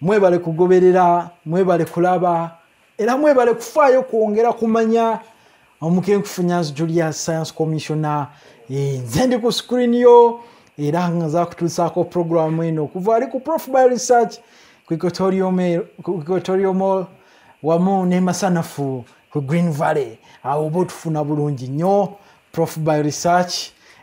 mwebale kugoberera mwebale kulaba era mwebale kufaayo kwongera kumanya omukenkufunyansi julia science commissiona eh, nze ndi ku screen yo era nga zakutuusaako programu eno okuva ali ku prof by research ku equatorio mall wamu nemasanafu ku green valley awo oba otufuna bulungi nnyo prof by research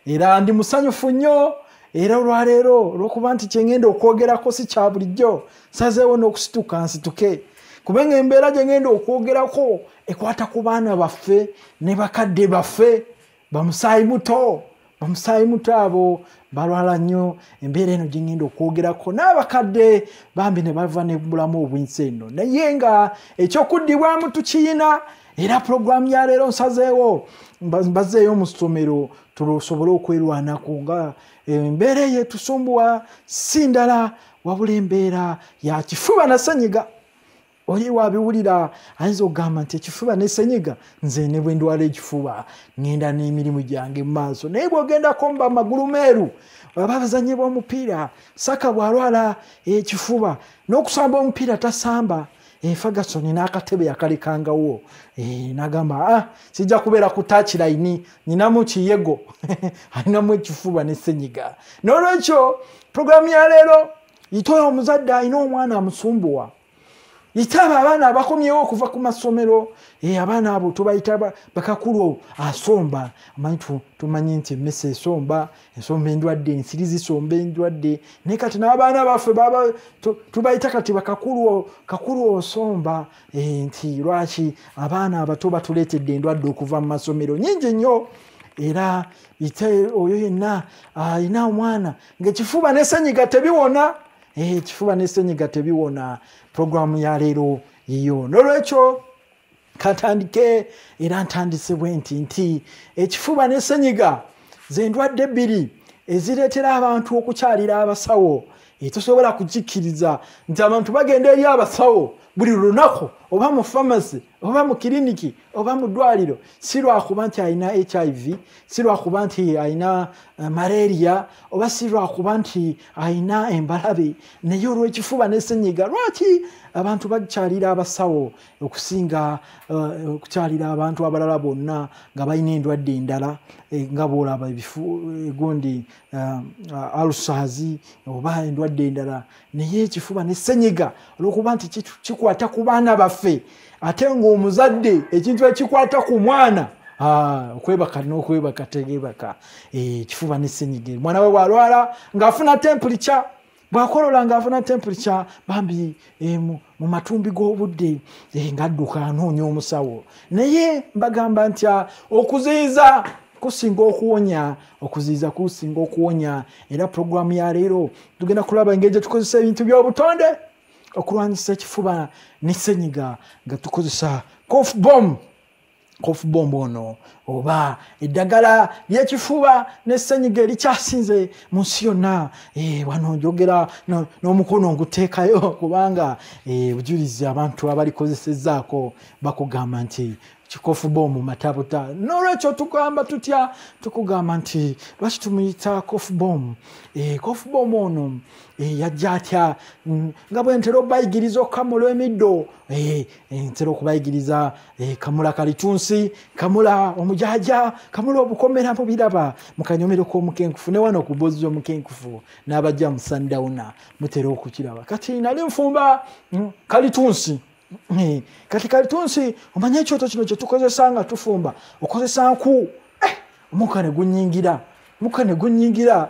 era ndi musanyufu nnyo era olwaleero olwokuba nti kyengenda okwogerako si kya bulijjo sazeewo n'okusituka nsituke kubanga embeera gyengenda okwogerako ekwata ku baana baffe ne bakadde baffe bamusaayi muto bamusaayi muto abo balwala nnyo embeera eno gyengenda okwogerako n'abakadde bambi ne bava nebulamu obwensi eno naye nga ekyokuddibwamu tukiyina era pulogulaamu ya leero nsazeewo mbazeeyo mu ssomero tusobole okwerwanako nga embeera eyo etusumbuwa si ndala wabula embeera ya kifuba na senyiga oli wabiwulira ayinza okugamba nti ekifuba ne senyiga nze ne bwe ndwala ekifuba ŋenda n'emirimu gyange mu maaso naye bw'ogendako mba amagulu meeru ababazanye b'omupiira saka bw'alwala ekifuba n'okusamba omupiira tasamba efagasoni eh, n'akatebe yakalekangawo eh, nagamba a ah, kijja kubeera ku takilaini nyinamu kiyego alinamu ekifuba ne senyiga n'olwekyo puroguramu ya leero yitoyo omuzadde alina omwana amusumbuwa yitaaba abaana abakomyewo okuva ku masomero eh, abaana abo tubayita bakakulu asomba amanyi tumanyi nti emesa esomba ensomba endwadde ensiri zisomba endwadde naye kati n'abaana baffe baba tubayita kati bakakulu osomba eh, nti lwaki abaana abato batuleetedde endwadde okuva mu masomero nyingi nnyo era ite oyo yenna alina omwana ngaekifuba nesenyiga tebiwona eh, ekifuba nesenyiga tebiwona puroguramu yaleero yiyo nolwekyo katandike era ntandise bwe nti nti ekifuba ne senyiga zendwadde bbiri ezireetera abantu okukyalira abasawo etusobola kukikkiriza nti abantu bagenda eri abasawo buli lunaku oba mu famasi oba mu kiriniki oba mu ddwaliro si lwakuba nti alina hiv si lwakuba nti alina eh, malaria oba si lwakuba nti alina embalabe naye olw'ekifuba n'esenyiga lwaki abantu bakyalira abasawo okusinga eh, okukyalira abantu abalala bonna nga balina endwadde endala eh, nga bwolaba ebifu egundi eh, alusazi oba endwadde endala naye ekifuba ne senyiga olwokuba nti kikwata ku baana baffe ate ngaomuzadde ekintu ekikwata ku mwana Ah, okwebaka nokwebaka tegebaka eh, kifuba nesenyiga mwana we walwala ngaafuna tempulikya bwakolola nga afuna temperature bambi eh, mu matumbi g'obudde eh, ngadduka anoonya omusawo naye mbagamba nti ah, okuziiza kusinga okuwonya okuziiza kusinga okuwonya era puroguramu ya leero tugenda kulaba engeri gyetukozesa ebintu by'obutonde okulwanyisa ekifuba ne senyiga nga tukozesa cof bom kofu bomba ono oba eddagala lyekifuba nesenyiga erikyasinze mu nsi yonna eh, wano njogera n'omukono nguteekayo kubanga eh, bujulizi abantu abalikozesezaako bakugamba nti kikofu bomu matabuta nolwekyo tugamba tutya tukugamba nti lwaki tumuyita kofu bomu eh, kofu bomu ono yajja atya mm, nga bwentera obayigiriza okukamula emiddo Eh, ntera okubayigiriza eh, kamula kalitunsi kamula omujaja kamula obukomera mubiraba mukanyomero komukenkufu newano kubozi omukenkufu nabaja musandawuna mutera okukiraba kati nali nfumba mm, kalitunsi eh, kati kalitunsi omanye ekyoto kino kyetukozesa nga tufumba okozesa nku omuka negunyingira muka negunyingira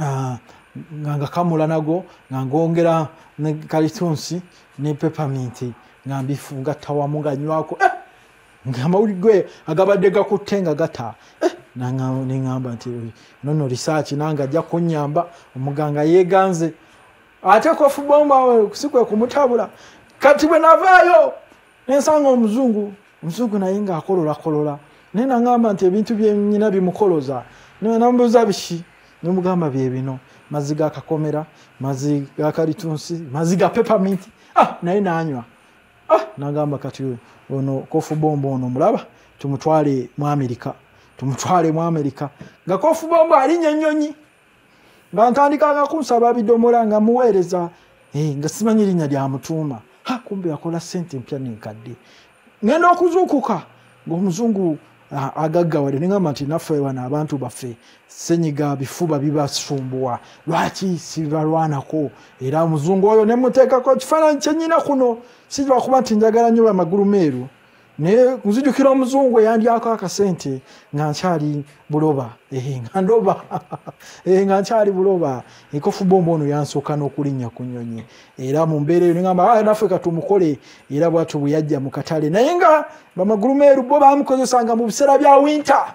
ah, nga ngakamula nago nga ngongera ne kalitunsi ne pepaminti nga mbifungatta wamu nga nywako eh! nga amawulire gwe agabadde gakutte nga gata eh! neŋamba nti nono risaaki nange ajja kunyamba omuganga yeeganze ate kofubomba si kwe kumutabula kati bwe navaayo nensanga omuzungu omuzungu naye nga akolola kolola naye nangamba nti ebintu byenyina bimukoloza nambuuza biki nemugamba byebino mazzi ga kakomera mazzi ga kalitunsi mazzi ga pepaminti ah naye nanywa ah nagamba kati ono kofu bombo ono mulaba tumutwale mu amerika tumutwale mu amerika nga kofu bombo alinya ennyonyi nga ntandikanga kunsaba bidomola nga muweereza eh, nga simanyi erinnya lya mutuuma ha kumbe yakola sente empya nenkadde ngenda okuzuukuka ngaomuzungu agaggawade nengamba nti naffe wano abantu baffe senyiga bifuba bibasumbuwa lwaki sibalwanako era omuzungu oyo nemuteekako ekifaananyi kyenyina kuno sirwakuba nti njagala nyo bamagulu meeru naye nzijukira omuzungu eyandyako akasente nga nkyali buloba eh, nga ndoba eh, nga nkyali buloba ekofu bomba ono yansooka n'okulinnya ku nyonyi era mu mbeera eyo nigamba ah, naffe katumukole era bwatyo bwe yajja mu katale naye nga bamagulu meeru bo bamukozesanga mu biseera bya winta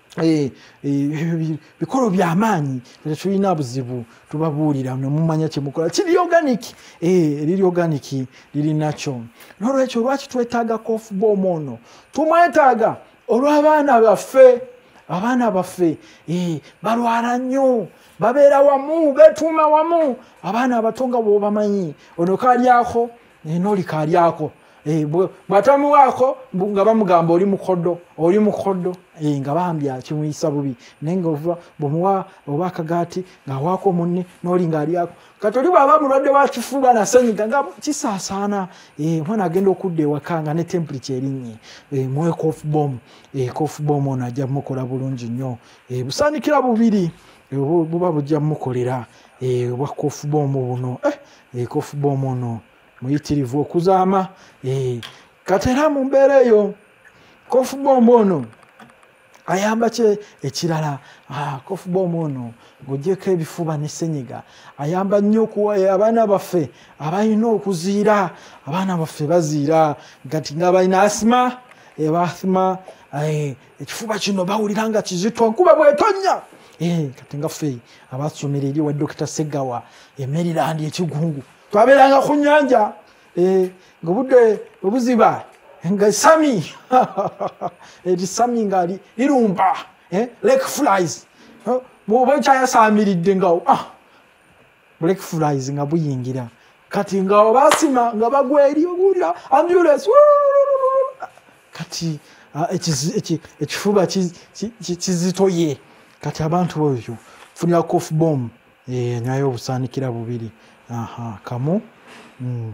Eh, eh, bikolo byamaanyi tetulina buzibu tubabuulira nemumanya kyemukola kiri organic eh, liri organic lirinakyo nolwekyo lwaki twetaaga kofuba omwono tumwetaaga olwabaana baffe abaana baffe balwala nnyo babeera wamu betuuma wamu abaana abato nga bwobamanyi ono kalyako naye nolikaali ako eh, bwatamuwaako nga bamugamba oli mukodo oli mukodo eh, nga bambi akimuyisa bubi naye nga ovuba bwemuwa oba akagaati ngaawaako munne nooli ngaalyako kati oli bwaba mulwadde wakifuba nasenyiga nga kisaasaana eh, omwana agenda okudda ewaka nga ne tempuli kyerinnye muwe kofbom kofbom ono ajja mukola bulungi nnyo busaanikira bubiri buba bujja mukolera obwa kofbom buno ekofba eh, omuno muyitirivu okuzaama eh, kati era mu mbeera eyo kofubomba ono ayamba kye ekirala ah, kofubomba ono ng'ogyeko ebifuba ne senyiga ayamba nnyo okuwayo abaana baffe abalina okuziira abaana baffe baziira gati nga balina asima ebathima eh, ekifuba kino bawulira nga kizito nkuba bwetonya eh, kati nga fe abasomera eri wa dokita segawa emerirandi ekigungu twabeeranga ku nyanja eh, nga budde obuziba nga sami eri sami nga lirumba eh, lake flies bwoba ekyayasamiridde ngawo ah, black flies nga buyingira kati nga basima nga bagwa eri owulira ambulance kati ah, ekifuba kizitoye kati abantu oyo funira cof bom eh, nyayo obusaanikira bubiri kamu mm.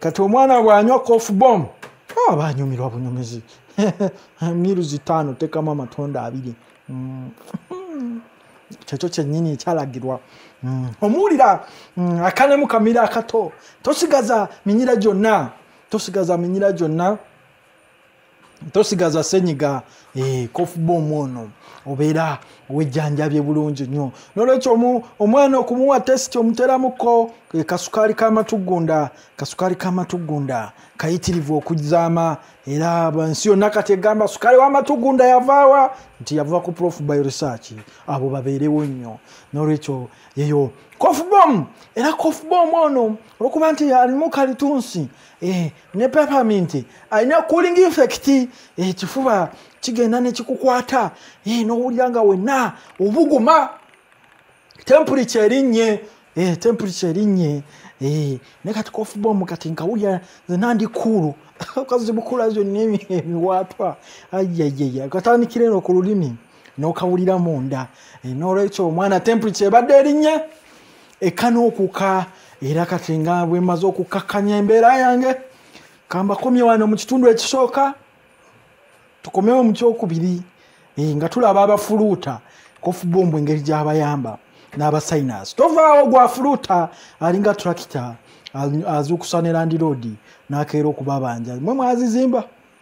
kati omwana bwanywa cof bom ah, aba anyumirwa bunyumizi miru zitaano tekamu amatunda abiri mm. kyekyo kyenyini ekyalagirwa mm. omuwulira mm, akanemu kamira akato tosigaza minyira gyonna tosigaza minyira gyonna tosigaza senyiga eh, kofubomu ono obeera wejjanjabye bulungi nnyo nolwekyo omwana okumuwa tesiti omuteramuko eh, kasukaali kamatugunda kasukaali kamatugunda kayitirivu okuzaama era ensi yonna kati egamba sukaali wamatugunda yavaawa nti yava ku prof by research abo babeerewo nnyo nolwekyo yeyo kofubom era kofubom ono olwokuba nti alimu kalitunsi eh, ne peppermint alina cooling effect ekifuba eh, kigenda nekikukwata eh, nowulira nga wenna obuguma temperature erinnye eh, temperature erinnye ne kati kofubomu kati nkawulira zena ndi kuulu kazi bukula zonna emiwaatwa ayayaya katandikira eno ku lulimi nokawulira munda nolwekyo omwana temperature ebadde erinnye eka n'okuka era kati nga bwe mmaze okukakkanya embeera yange kambakomye wano mu kitundu ekisooka tukomewo mu kyokubiri eh, nga tulaba abafuluuta kofubombu engeri gyabayamba n'abasayinasi tovaawo gwafuluuta alinga turakita azuukusa ne landiroodi n'akeera okubabanja mwe mwazizimba